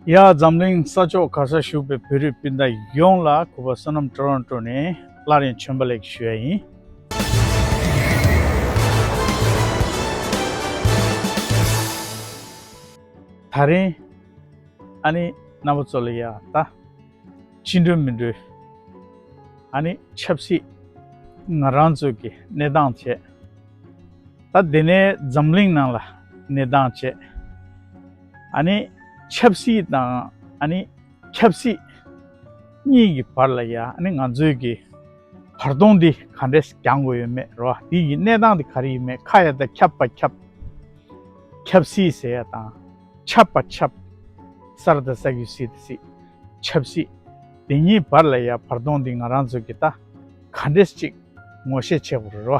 ཡ། འཛམ་གླིང་ས་ཕྱོགས་ག་སར་བཞུགས་པའི་བོད་རིགས་སྤུན་ཟླ་ཡོངས་ལ་གུས་པ་བསོད་ནམས་དྲོ་རང་དྲོ་ནས་སླར་ཡང་མཆོད་འབུལ་ལེགས་ཞུ་ཡ་ཡིན། ད་རིང། ཨ་ནི་རྣམ་པ་ཚོ་ལ་ཡ་ད། ཅི་འགྲོས་མི་འགྲོས། ཨ་ནི་ཆབ་སྲིད། ང་རང་ཚོས་ཀྱི་གནས་སྟངས་བྱས། ད་འདི་ནས་འཛམ་གླིང་ནང་ལ་གནས་སྟངས་བྱས། ཨ་ནི། ཆབ་སྲིད་དང་ཨ་ནི། ཆབ་སྲིད། གཉིས་ཀྱི་བར་ལ་ཡ་ཨ་ནི་ང་ཚོས་ཀྱི། བར་སྟོང་འདི་ག་འདྲས་གྱང་དགོས་ཡོད་མེད་རོ་འདི་ཡི་གནས་སྟངས་འདི་ག་རེ་ཡིན་མེད་ཁ་ཡ་ད་ཁྱབ་པ་ཁྱབ། ཁྱབ་སྲིད་ཟེར་ཡ་དང། ཁྱབ་པ་ཁྱབ། སར་ད་ས་གུ་སྲིད་ད་སྲིད། ཆབ་སྲིད། འདི་གཉིས་བར་ལ་ཡ་བར་སྟོང་འདི་ང་རང་ཚོས་ཀྱི་ད་ག་འདྲས་ཅིག་ངོ་ཤེས་བྱེད་དགོས་རེད་རོ།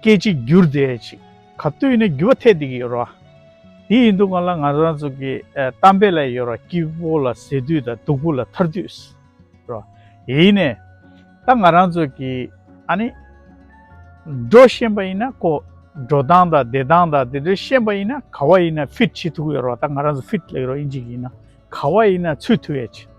སྐད་ཅིག་བསྒྱུར་དེ་ཅིག་ག་ལྟོས་ནས་བསྒྱུར་བ་ཐད་དེ་གི་ཡོད་རོ། དེ་ཡིན་དུ་ང་ལ་ང་རང་ཚོ་གི་གཏམ་དཔེ་ལ་ཡོད་རོ་སྐྱིད་པོ་ལ་ཟེར་དུས་དང་སྡུག་པོ་ལ་ཐར་དུས་རོ། ཡིན་ནས་ད་ང་རང་ཚོ་གི་ཨ་ནི། འགྲོ་ཤེས་པ་ཡིན་ན་ཀོ། འགྲོ་སྟངས་དང་བསྡད་སྟངས་དང་དེ་འདྲ་ཤེས་པ་ཡིན་ན་ག་བ་ཡིན་ན་ཕིད་བྱེད་ཐུག་ཡོད་རོ་ད་ང་རང་ཚོ་ཕིད་ལེགས་རོ་ཨིན་ཅིག་ཡིན་ན་ག་བ་ཡིན་ན་ཚུད་ཐུག་ཡོད་ཅིག།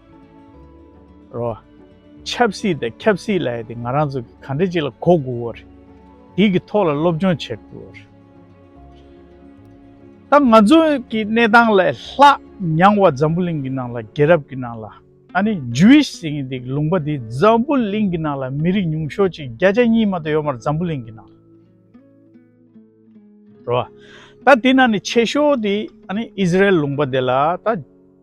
རོ། ཆབ་སྲིད་དང་ཁྱབ་སྲིད་ལ་ཡོད་དེ་ང་རང་ཚོ་གི་གང་འདྲ་ཅིག་ལ་གོ་དགོས་བོ་རེད། དེ་གི་ཐོག་ལ་སློབ་སྦྱོང་བྱེད་དགོས་བོ་རེད། ད་ང་ཚོ་གི་གནས་སྟངས་ལ་ལྷག་མྱང་བ་འཛམ་བུ་གླིང་གི་ནང་ལ་རྒྱལ་རབས་གི་ནང་ལ་ཨ་ནི Jewish ཟེར་གྱི་འདུག་ལུང་པ་དེ་འཛམ་བུ་གླིང་གི་ནང་ལ་མི་རིགས་ཉུང་ཤོས་ཅིག་བརྒྱ་ཆ་གཉིས་མ་ཏོག་ཡོད་མ་རེད་འཛམ་བུ་གླིང་གི་ནང་ལ། རོ། ད་དེ་ནང་ནས་ཆེ་ཤོས་དེ་ཨ་ནི Israel ལུང་པ་དེ་ལ་ད།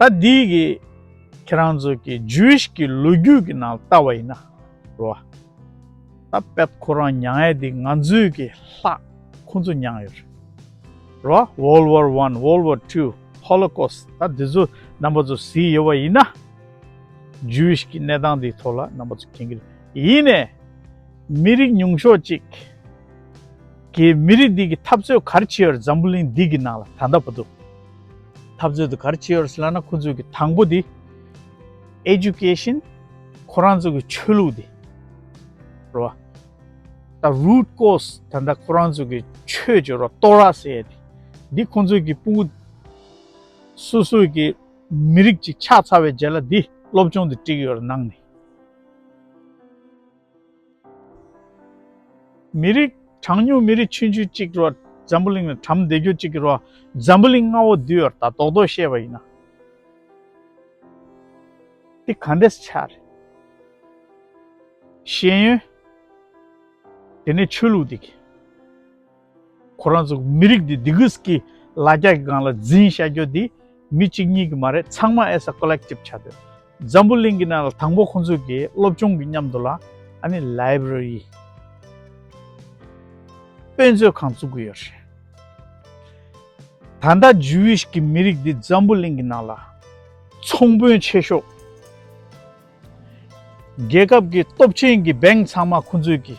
ད་འདི་གི་ཁྱེད་རང་ཚོ་གི Jewish གི་ལོ་རྒྱུས་གི་ནང་ལྟ་བ་ཡིན་ན་རོ། ད་པད་ཁོ་རང་མྱངས་ཡས་འདི་ང་ཚོའི་གི་ལྷ་ཁོང་ཚོ་མྱངས་ཡོད་རེད་རོ། World War One World War Two Holocaust ད་འདི་ཚོ་རྣམ་པ་ཚོ་ཟིག་ཡོད་པ་ཡིན་ན། Jewish གི་གནས་སྟངས་འདི་ཐོག་ལ་རྣམ་པ་ཚོ་མཁྱེན་གི་རེད། ཡིན་ནས། མི་རིགས་ཉུང་ཤོས་གཅིག་གི་མི་རིགས་འདི་གི་འཐབ་རྩོད་གར་བྱེད་ཡོད་རེད་འཛམ་བུ་གླིང་འདི་གི་ནང་ལ་ད་ལྟ་བར་དུ། འཐབ་རྩོད་དུ་གར་བྱེད་ཡོར་སི་ལ་ན་ཁོ་ཚོས་ཀྱི་དང་པོ་དེ། Education། ཁོ་རང་ཚོས་ཀྱི་ཆོས་ལུགས་དེ། རོ་བ། ད Root Cause ད་ལྟ་ཁོ་རང་ཚོས་ཀྱི་ཆོས་ཀྱི་རོ་ཏོ་ར་སེ་ཡེ་དེ། འདི་ཁོ་ཚོས་ཀྱི་སྤུ་གུ། སུ་སུ་ཀྱི་མི་རིགས་ཅིག་ཆགས་ཚར་བའི་རྗེས་ལ་འདི་སློབ་སྦྱོང་དུ་བཀྲིགས་ཡོར་ནང་ནས། མི་རིགས། གྲངས་ཉུང་མི་རིགས་ཆུང་ཆུང་གཅིག་གི་རོགས། འཛམ་བུ་གླིང་ལ་བྲམ་ཟེ་རྒྱུད་གཅིག་གི་རོགས། འཛམ་བུ་གླིང་ལྔ་བོ་འདུས་བར་ད་དོག་དོག་བཤད་པ་ཡིན་ན། འདི་ག་འདྲས་ཆགས་རེད། ཤེས་ཡོན། དེ་ནས་ཆོས་ལུགས་འདི་ག། ཁོ་རང་ཚོ་མི་རིགས་འདི་སྡིག་གུས་ཀྱི་ལ་རྒྱ་གི་སྒང་ལ་འཛིན་བྱ་རྒྱུ་འདི་མི་གཅིག་གཉིས་ཀྱི་མ་རེད་ཚང་མ as a collective བྱ་འདོད། འཛམ་བུ་གླིང་གི་ནང་ལ་དང་པོ་ཁོང་ཚོས་ཀྱི་སློབ་ཆུང་གི་མཉམ་དུ་ལ་ཨ་ནི library དཔེ་མཛོད་ཁང་བཙུགས་ཀྱི་ཡོད་རེད། ད་ལྟ Jewish གི་མི་རིགས་འདི་འཛམ་བུ་གླིང་གི་ནང་ལ་ཚོང་དཔོན་ཆེ་ཤོས། རྒྱལ་ཁབ་ཀྱི་སྟོབས་ཆེན་གྱི bank ཚང་མ་ཁོང་ཚོས་ཀྱི།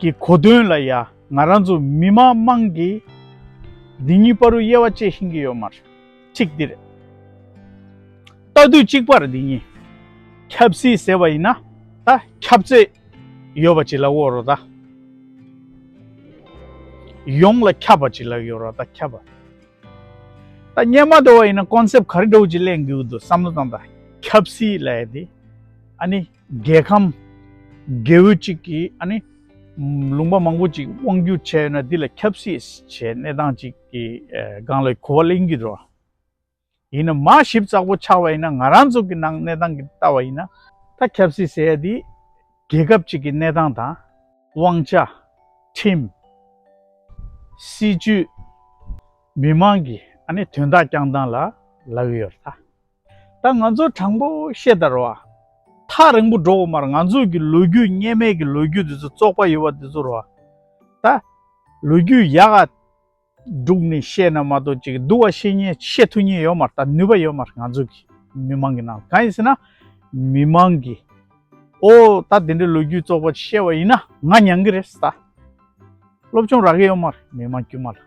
གི་གོ་དོན་ལ་ཡང་ང་རང་ཚོ་མི་མང་དམངས་ཀྱིས་འདི་གཉིས་པར་དབྱེ་བ་དཔྱད་ཤེས་ཀྱི་ཡོད་མ་རེད། གཅིག་འདི་རེད། ལྟ་དུས་གཅིག་པར་འདི་གཉིས་ཁྱབ་སྲིད་ཟེར་བ་ཡིན་ན་ད་ཁྱབ་ཚད་ཡོད་པ་ཅིག་ལ་དབོར་རོགས་དང། ཡོངས་ལ་ཁྱབ་པ་ཅིག་ལ་ཡོད་རོགས་དང་ཁྱབ་པ། ད་རྙེད་མ་འགྲོ་བ་ཡིན་ན་གོང་གསལ་ག་རེ་འགྲོ་འོས་ཀྱི་གླེང་དགོས་ཀྱི་འདུག་བསམ་བློ་བཏང་དང། ཁྱབ་སྲིད་ལ་ཡ་དེ་ཨ་ནི། རྒྱལ་ཁམས། རྒྱལ་བོ་གཅིག་གིས་ཨ་ནི། ལུང་པ་མང་པོ་གཅིག་དབང་བསྒྱུར་བྱས་ཡོད་ན་འདི་ལ་ཁྱབ་སྲིད་བྱས་གནས་སྟངས་གཅིག་གི་སྒང་ལ་གོ་བ་གླེང་གི་རོ། ཡིན་ན་མ་ཞིབ་ཙག་པོ་ཆགས་པ་ཡིན་ན་ང་རང་ཚོ་གི་ནང་གནས་སྟངས་ཀྱི་ལྟ་བ་ཡིན་ན། ད་ཁྱབ་སྲིད་ཟེར་ཡ་འདི། རྒྱལ་ཁབ་གཅིག་གི་གནས་སྟངས་དང། དབང་ཆ། ཁྲིམས། སྲིད་ཇུས། མི་མང་གི་ཨ་ནི་དོན་དག་བསྐྱང་སྟངས་ལ་ལབ་ཡོད་རེད་ད། ད་ང་ཚོ་དྲང་པོ་བཤད་དར་བ། ཐག་རིང་པོ་འགྲོ་འོག་མར་ང་ཚོ་གི་ལོ་རྒྱུས་སྙེ་མལ་གྱི་ལོ་རྒྱུས་དེ་ཚོ་བཙོག་པ་ཡོད་པ་དེ་ཚོར་བ། ད་ལོ་རྒྱུས་ཡག་ག་དྲུག་ནས་བཤད་ན་མ་གཏོགས་ཅིག་སྡུག་བ་བཤད་ཉེ་བཤད་ཐུ་ཉེ་ཡོད་མ་རྟ་ནུས་པ་ཡོད་མ་རེད་ང་ཚོ་གི་མི་མང་གི་ནང་ལ་གང་ཡིན་ཟེར་ན། མི་མང་གི་ཨོ་ད་དེ་འདྲའི་ལོ་རྒྱུས་བཙོག་པ་བཤད་བ་ཡིན་ན་ང་མྱང་གི་རེད་ད་སློབ་སྦྱོང་རག་གི་ཡོད་མ་རེད་མི་མང་དཀྱུས་མ་ལ།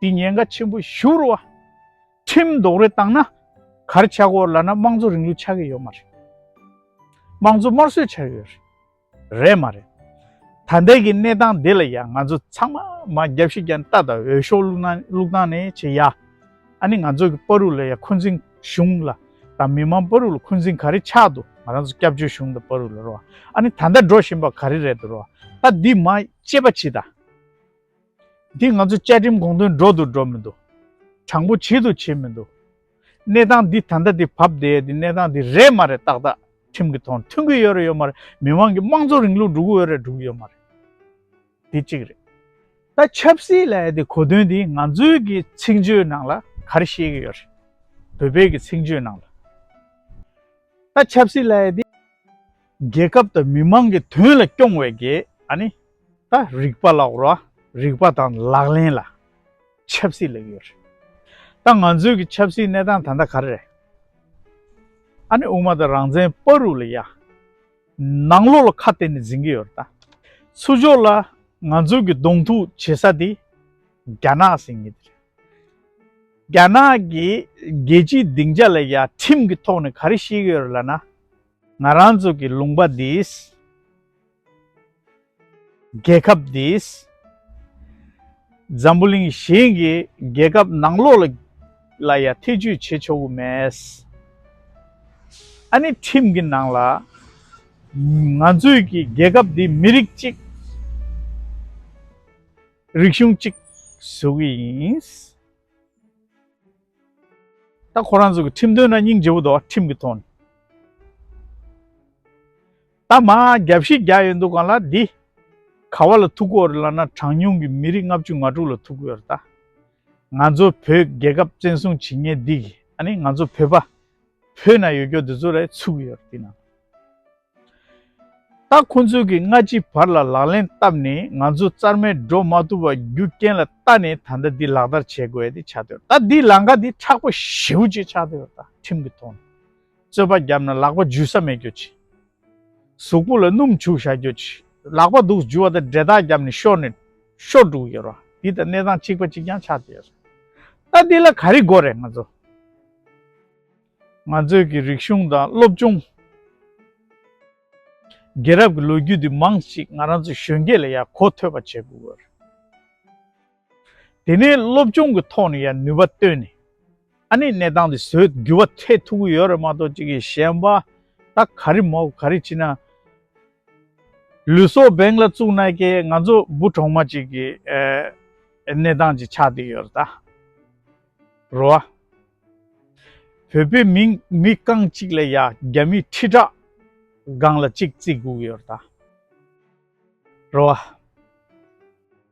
དེ་ཉེན་ཁ་ཆེན་པོ་ཞུ་རུ་བ། ཁྲིམས་རྡོག་རོལ་བཏང་ན། གར་ཆག་གོ་ལ་ན་དམངས་གཙོ་རིང་ལུགས་ཆག་གི་ཡོད་མ་རེད། དམངས་གཙོ་དམར་གསོད་ཆག་ཡོད་རེད། རེད་མ་རེད། ད་ལྟའི་གི་གནས་སྟངས་འདི་ལ་ཡང་ང་ཚོ་ཚང་མ་མ་རྒྱབ་ཤི་རྒྱན་ལྟ་དང་འོས་ཤོག་བླུག་ན་བླུག་སྟངས་ནི་བྱེད་ཡ། ཨ་ནི་ང་ཚོ་གི་པ་རུ་ལ་ཡ་འཁོན་འཛིན་གཞུང་ལ་དང་མི་མང་པ་རུ་ལ་འཁོན་འཛིན་ག་རེ་ཆག་འདུག་ང་རང་ཚོ་སྐྱབས་བཅོལ་གཞུང་དང་པ་རུ་ལ་རུ་བ་ཨ་ནི་ད་ལྟ་འགྲོ་བཞིན་པ་ག་རེ་རེད་འདུག་རུ་བ་ད་འདི་མ་བཅད་པ་བྱི་ད། འདི་ང་ཚོའི་བཅའ་ཁྲིམས་དགོངས་དོན་སྒྲོག་ཏུ་འགྲོ་མི་འདུག་དྲང་པོ་བྱེད་དུ་བྱེད་མི་འདུག་གནས་སྟངས་འདི་ད་ལྟ་འདི་བབ་བསྡད་ཡོད་འདི་གནས་སྟངས་འདི་རེད་མ་རེད་ཏག་ཏག་ཁྲིམས་ཀྱི་ཐོག་ནས་མཐུན་གི་ཡོད་རེད་ཡོད་མ་རེད་མི་དམངས་ཀྱི་དམངས་གཙོ་རིང་ལུགས་འགྲོ་གི་ཡོད་རེད་འགྲོ་གི་ཡོད་མ་རེད། འདི་གཅིག་རེད། ད་ཆབ་སྲིད་ལ་ཡ་འདི་གོ་དོན་འདི་ང་ཚོའི་གི་ཚིག་མཆོད་ནང་ལ་ག་རེ་བཤད་གི་ཡོད་རེད་བོད་པའི་གི་ཚིག་མཆོད་ནང་ལ། ད་ཆབ་སྲིད་ལ་ཡ་འདི། རྒྱལ་ཁབ་དང་མི་མང་གི་དོན་ལ་སྐྱོང་བའི་དགེ། ཨཱ་ནི། ད་རིག་པ་ལ་བོར་བ་རིག་པ་དང་ལག་ལེན་ལ། ཆབ་སྲིད་ལས་ཡོད་རེད། ད་ང་ཚོའི་གི་ཆབ་སྲིད་གནས་སྟངས་ད་ལྟ་ག་རེ་རེད། ཨཱ་ནི་དབུ་མ་དང་རང་བཙན་པ་རུ་ལ་ཡ། ནང་ལོག་ལ་ཁ་གཏད་ནས་འཛིན་གི་ཡོད་རེད་ད། ཚུར་ཕྱོགས་ལ་ང་ཚོའི་གི་གདོང་ཐུག་བྱེད་ས་དེ། རྒྱ་ནག་ཟེར་ངེས་དེ་རེད། རྒྱ་ནག་གི་རྒྱལ་སྤྱིའི་སྡིངས་ཆ་ལ་ཡ་ཁྲིམས་གི་ཐོག་ནས་ག་རེ་བཤད་གི་ཡོད་རེད་ལ་ན། ང་རང་ཚོ་གི་ལུང་པ་འདིས། རྒྱལ་ཁབ་འདིས། འཛམ་བུ་གླིང་གཞན་གྱི་རྒྱལ་ཁབ་ནང་ལོག་ལ་ལ་ཡང་ཐེ་ཇུས་བྱེད་ཆོག་གི་མེད། ཨ་ནི་ཁྲིམས་ཀྱི་ནང་ལ། ང་ཚོས་ཀྱི་རྒྱལ་ཁབ་འདི་མི་རིགས་གཅིག། རིག་གཞུང་གཅིག་བཟོ་གི་ཡིན། ད་ཁོ་རང་ཚོ་གི་ཁྲིམས་དོན་ན་སྙིང་རྗེ་བོ་འདུག་ཁྲིམས་ཀྱི་ཐོག་ནས་ད་མ་རྒྱ་བཞི་བརྒྱ་ཡོད་འདུག་གང་ལ་འདི་ག་བ་ལ་ཐུག་གོ་རེད་ལབ་ན་གྲངས་ཉུང་གི་མི་རིགས་ལྔ་བཅུ་ང་དྲུག་ལ་ཐུག་གི་ཡོད་རེད་ད་ང་ཚོ་བོད་རྒྱལ་ཁབ་བཙན་བཟུང་བྱེད་ངེས་འདི་གི་ཨ་ནི་ང་ཚོ་བོད་པ་བོད་ན་ཡོད་སྐྱོ་འདི་ཚོ་རེད་ཚུག་གི་ཡོད་རེད་འདི་ན། ད་ཁོ་ཚོས་ཀྱི་སྔ་ཕྱི་བར་ལ་ལག་ལེན་བཏབ་ནས་ང་ཚོ་རྩར་མེད་འགྲོ་མ་ཐུབ་པ་རྒྱུ་རྐྱེན་ལ་ལྟ་ནས་ད་ལྟ་འདི་ལག་བསྟར་བྱེད་དགོས་ཏེ་ཆགས་འདོད་ད་འདི་ལང་ཀ་འདི་ཁྲག་པ་བཞི་བོ་ཅིག་ཆགས་འདོད་ད་ཁྲིམས་ཀྱི་ཐོག་ནས་རྩོད་པ་བརྒྱབ་ན་ལག་པ་འཇུས་ས་མེད་རྒྱུ་ཅི། གཟུགས་པོ་ལ་སྣུམ་བྱུག་བཞག་རྒྱུ་ཅི། ལག་པ་དུག་འཇུ་བ་དང་འབྲེལ་ཐག་བརྒྱབ་ནས་ཤོར་ནས་ཤོར་འགྲོ་གི་ཡོད་རོ་འདི་ད་གནས་སྟངས་གཅིག་པ་ཅིག་ཀྱང་ཆགས་འདོད་ཡོད་རེད་ད་འདི་ལ་ག་རེ་དགོས་རེད་ང་ཚོ། ང་ཚོས་ཀྱི་རིག་གཞུང་དང་སློབ་སྦྱོང། རྒྱལ་རབས་ཀྱི་ལོ་རྒྱུས་འདི་མང་གཅིག་ང་རང་ཚོ་གཞོན་སྐྱེས་ལ་ཡང་གོ་ཐོས་པ་བྱེད་དགོས་རེད། དེ་ནས་སློབ་སྦྱོང་གི་ཐོག་ནས་ཡང་ནུས་པ་བཏོན་ནས་ཨ་ནེ་གནས་སྟངས་འདི་བཟོས་འགྱུར་བ་འཕྲད་ཐུབ་ཀྱི་ཡོད་རེད་མ་གཏོགས་ཅིག་གིས་གཞན་པ་ད་ག་རེ་མོག་ག་རེ་བྱེད་ན། ལུས་སྲོག་འབེན་ལ་བཙུགས་ན་ཀྱེ་ང་ཚོ་འབུ་གྲོག་མ་ཅིག་གི་གནས་སྟངས་ཅིག་ཆགས་བསྡད་ཡོད་རེད་ད། རོ་ཨ། བོད་པའི་མིང་མི་རྐང་གཅིག་ལ་ཡ་རྒྱ་མི་ཁྲི་ཕྲག་སྒང་ལ་གཅིག་བརྩི་དགོས་ཀྱི་ཡོད་ད་རོ།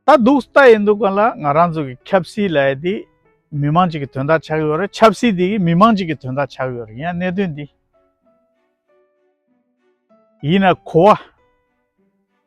ད་སྡུག་ས་ད་ཡིན་འདུག་ག་ལ་ང་རང་ཚོ་གི་ཁྱབ་སྲིད་ལ་ཡ་དེ་མི་མང་གཅིག་གི་དོན་དག་ཆགས་ཀྱི་ཡོད་རེད་ཆབ་སྲིད་དེ་མི་མང་གཅིག་གི་དོན་དག་ཆགས་ཀྱི་ཡོད་རེད་ཡིན་ན་གནད་དོན་དེ་ཡིན་ན་གོ་བ།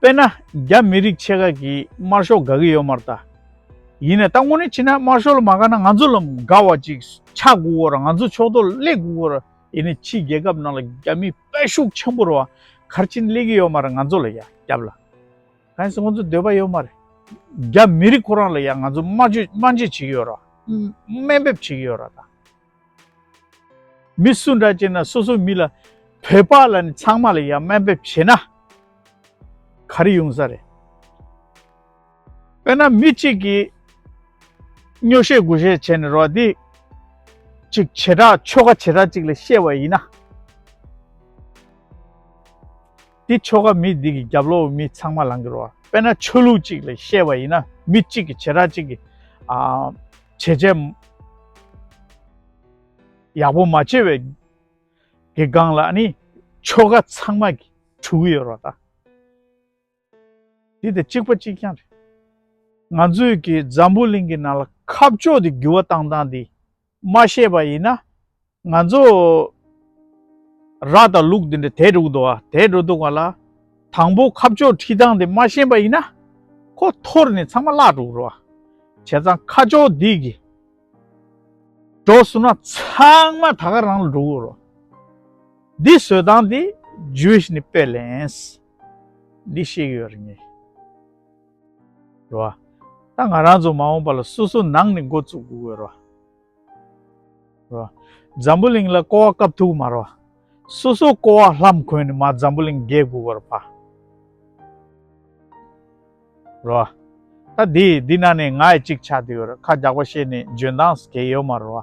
དཔེར་ན་རྒྱ་མི་རིགས་ཆེ་ཁག་གིས་དམར་ཤོག་དགའ་གི་ཡོད་མ་རྟ། ཡིན་ནའི་ད་དངོས་གནས་ཕྱིན་ན་དམར་ཤོག་ལ་མ་དགའ་ན་ང་ཚོ་ལ་དགའ་བ་ཅིག་ཆགས་དགོས་བོ་ར་ང་ཚོ་ཕྱོགས་གཏོགས་སླེབས་དགོས་བོ་ར་ཡིན་ནའི་ཕྱིའི་རྒྱལ་ཁབ་ནང་ལ་རྒྱ་མིའི་དཔལ་ཤུགས་ཆེན་པོ་ར་བ་གར་ཕྱིན་སླེབས་གི་ཡོད་མ་ར་ང་ཚོ་ལ་ཡ་རྒྱབ་ལ་གང་སྲིད་ཁོང་ཚོ་འདོད་པ་ཡོད་མ་རེད། རྒྱ་མི་རིགས་ཁོ་རང་ལ་ཡ་ང་ཚོ་སྨྲ་བརྗོད་སྨྲ་འཇལ་བྱེད་ཀྱི་ཡོད་ར་བ། སྨན་འབེབས་བྱེད་ཀྱི་ཡོད་ར་བ། མི་སུ་འདྲ་བྱེད་ན་སོ་སོའི་མི་ལ་བོད་པ་ལ་ནི་ཚང་མ་ལ་ཡང་སྨན་འབེབས་བྱེད་ན་ག་རེ་ཡོང་ས་རེད། དཔེར་ན་མི་གཅིག་གིས་སྨྱོ་བཤད་དགུ་བཤད་བྱས་ནས་རོགས་འདེགས་ཅིག་བྱེ་བྲག་ཆོལ་ཁ་བྱེ་བྲག་ཅིག་ལ་བཤད་པ་ཡིན་ན། དེ་ཆོ་ག་མི་སྡིག་གི་རྒྱབ་ལོགས་མི་ཚང་མ་ལང་གི་རོ། དཔེར་ན་ཆོས་ལུགས་གཅིག་ལ་བཤད་པ་ཡིན་ན་མི་གཅིག་གི་བྱེ་བྲག་ཅིག་གི་བྱས་རྗེས་ཡག་པོ་མ་བྱས་པའི་གི་སྒང་ལ་ནི་ཆོ་ག་ཚང་མ་གི་འཁྲུག་གི་ཡོད་རོ་ད། དེ་དེ་གཅིག་པ་གཅིག་རྐྱང་རེད། ང་ཚོས་གི་འཛམ་བུ་གླིང་གི་ནང་ལ་ཁ་ཕྱོགས་དེ་འགྱུར་བ་བཏང་བཏང་དེ། མ་ཤེས་པ་ཡིན་ན། ང་ཚོ་ར་དང་ལུག་འདི་འདྲ་དལ་འགྲོ་འདུག་བ་དལ་འགྲོ་འདུག་བ་ལ། དང་པོ་ཁ་ཕྱོགས་ཁྲི་ཐང་འདི་མ་ཤེས་པ་ཡིན་ན། ཁོ་ཐོར་ནས་ཚང་མ་བརླག་འགྲོ་རུ་བ། བྱས་ཙང་ཁ་ཕྱོགས་འདི་གི། འགྲོ་བསུ་ན་ཚང་མ་ད་ག་རང་ལ་འགྲོ་དགོས་རུ་བ། འདི་བཟོས་སྟངས་འདི Jewish ནི་དཔེ་ལེན། འདི་ཤེས་གི་ཡོད་རེད་ངེས། རེད་བ། ད་ང་རང་ཚོ་མ་འོངས་པ་ལ་སོ་སོ་ནང་ནས་འགོ་བཙུགས་དགོས་དགོས་རེད་བ། རེད་བ། འཛམ་བུ་གླིང་ལ་ཀོ་བ་བཀབ་ཐུབ་མ་རེད་བ། སོ་སོ་ཀོ་བ་ལྷམ་གོན་ནས་མ་འཛམ་བུ་གླིང་རྒྱས་དགོས་དགོས་རེད་བ། རེད་བ། ད་འདི་འདི་ན་ནས་ང་ཡི་ཅིག་ཆ་དེ་ཡོད་རེད་ཁ་རྒྱག་པ་བཤད་ནས་འཇོན་སྟངས་སུ་གས་ཡོད་མ་རེད་བ།